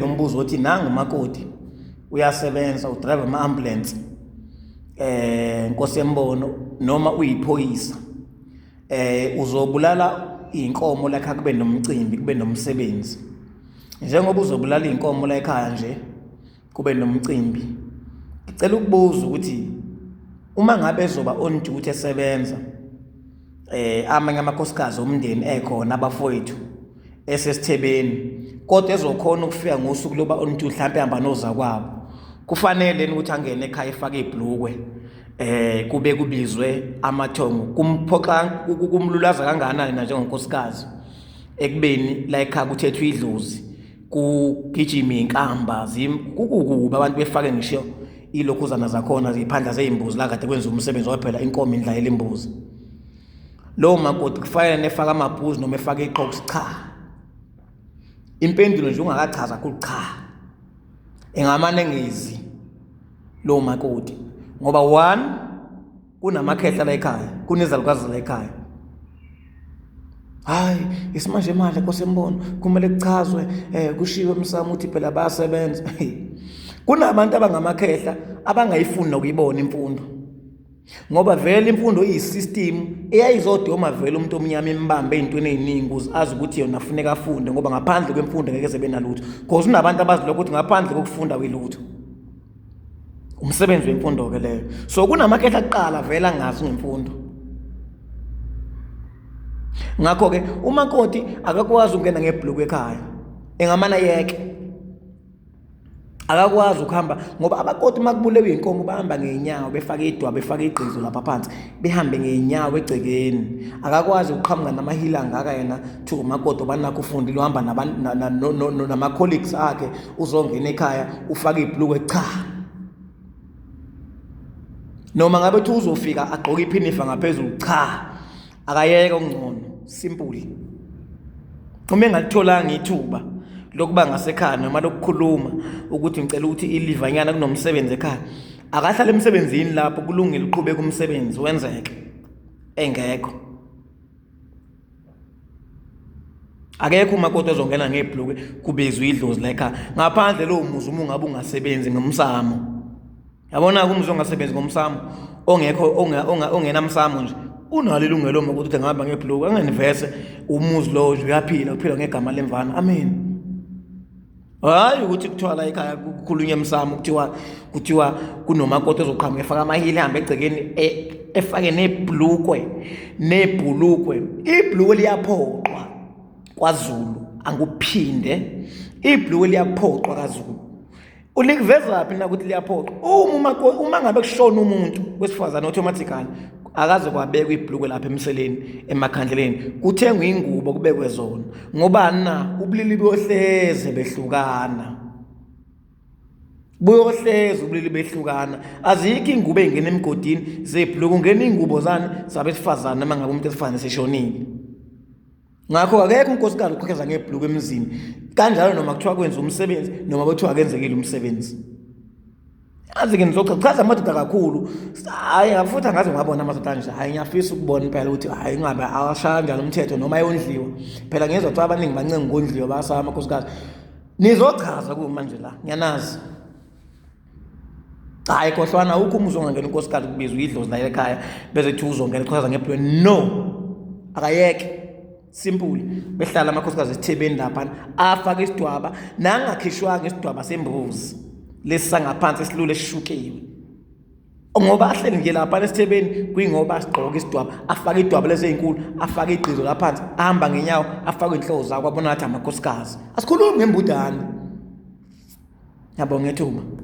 nombuzo othi nangu makoti uyasebenza udrive ama-ambulance eh nkosi yembono noma uyiphoyisa eh uzobulala inkomo lakha kube nomcimbi kube nomsebenzi njengoba uzobulala inkomo la ekhaya nje kube nomcimbi ngicela ukubuza ukuthi uma ngabe ezoba on duty esebenza eh amanye amakhosikazi omndeni ekhona abafowethu esesithebeni kodwa ezokhona ukufika ngosuku loba oluthi mhlawumbe ehamba noza kwabo kufanele ukuthi angene ekhaya efake ibhlukwe eh kube kubizwe amathongo kumphoxa kumlulaza kangakanani na njengonkosikazi ekubeni la ekhaya kuthethwa idlozi kugijima inkamba kukukuba abantu befake ngisho ilokhuzana zakhona ziphandla zeyimbuzi la kade kwenza umsebenzi waphela inkomo indla yelimbuzi lowo makoti kufanele nefaka amabhuzi noma efake iqokusi cha impendulo nje ungakachaza kuthi cha engamane ngezi lowo makoti ngoba one kunamakhehla la ekhaya kunezalukazi la ekhaya hayi isimanje manje kosembono kumele kuchazwe eh kushiwe umsamo ukuthi phela bayasebenza kunabantu abangamakhehla abangayifuni nokuyibona imfundo ngoba vele imfundo iyisystem eyayizodoma vele umuntu omnyama imbambe ezintweni eziningi ukuze azi ukuthi yona afuneka afunde ngoba ngaphandle kwemfundo ngeke sebe nalutho because unabantu abazi lokho ukuthi ngaphandle kokufunda kwilutho umsebenzi wemfundo-ke leyo so kunamakhetha kuqala vele angazi ngemfundo ngakho-ke umakoti akakwazi ukungena ngebhuluku ekhaya engamana yeke akakwazi ukuhamba ngoba abakoti uma kubulewe iy'nkomo bahamba ngey'nyawo befake idwa befake igqizo lapha phansi behambe ngeenyawo egcekeni akakwazi ukuqhamuka namahila angaka yena to umakoto banakho ufundile uhamba nama-colleagues akhe uzongena ekhaya ufake ibhuluku cha noma ngabe thi uzofika agqoke iphinifa ngaphezulu cha akayeke okungcono simple uma engalitholanga ithuba lokuba ngasekhaya noma lokukhuluma ukuthi ngicela ukuthi ilivanyana kunomsebenzi ekhaya akahlale emsebenzini lapho kulungile uqhubeka umsebenzi wenzeke engekho akekho umakoti ozongena ngebhluke kubizwa idlozi lekha ngaphandle lowo muzi uma ungabe ungasebenzi ngomsamo yabona-ke umuzi ongasebenzi ngomsamo ongekho ongenamsamo nje unalo ilungelo uma ukuthi ngihamba ngebhluke angenivese umuzi lowo nje uyaphila uphila ngegama lemvana amen hayi ukuthi kuthiwa la ekhaya kukhulunywa emsamo kuthiwa kuthiwa kunomakoti ozoqhamuka efaka amahili ehambe egcekeni e, efake nebhlukwe nebhulukwe ibhlukwe liyaphoqwa kwazulu anguphinde ibhlukwe liyaphoqwa kazulu ulikuvezaphi na ukuthi liyaphoqwa uma ngabe kushona umuntu wesifazane automatically akaze kwabekwa ibhulukwe lapha emseleni emakhandleleni kuthengwa ingubo kubekwe zona ngobani na ubulili bohleze behlukana buyohleze ubulili behlukana azikho ingubo ey'ngena emgodini zebhuluku ungena iy'ngubo zani zabesifazane uma ngabe umuntu esifazane seshonile ngakho akekho unkosikazi ukhokheza ngebhuluku emzini kanjalo noma kuthiwa kwenza umsebenzi noma kuthiwa akenzekile umsebenzi azi ke ngizochaza chaza amadoda kakhulu hayi futhi angaze ngabona amadoda anje hayi ngiyafisa ukubona impela ukuthi hayi ngabe awashaya njalo umthetho noma ayondliwa phela ngiyezwa kuthiwa abaningi bancenga ukondliwa basaba amakhosikazi nizochaza kumanje la ngiyanazi cha hayi khohlwana awukho umuzi ongangena unkosikazi kubiza uyidlozi naye ekhaya bese kuthiwa uzongena iqhaza ngeplweni no akayeke simple behlala amakhosikazi esithebeni laphana afake isidwaba nangakhishwanga isidwaba sembuzi lesi sangaphansi esilule esishukiwe ngoba ahleli nje lapha nesithebeni kuyingoba sigqoke isidwaba afake idwaba lezeyinkulu afake igqizo laphansi ahamba ngenyawo afake inhloko zakho abona ngathi amakhosikazi asikhulumi ngembudane yabo ngethuba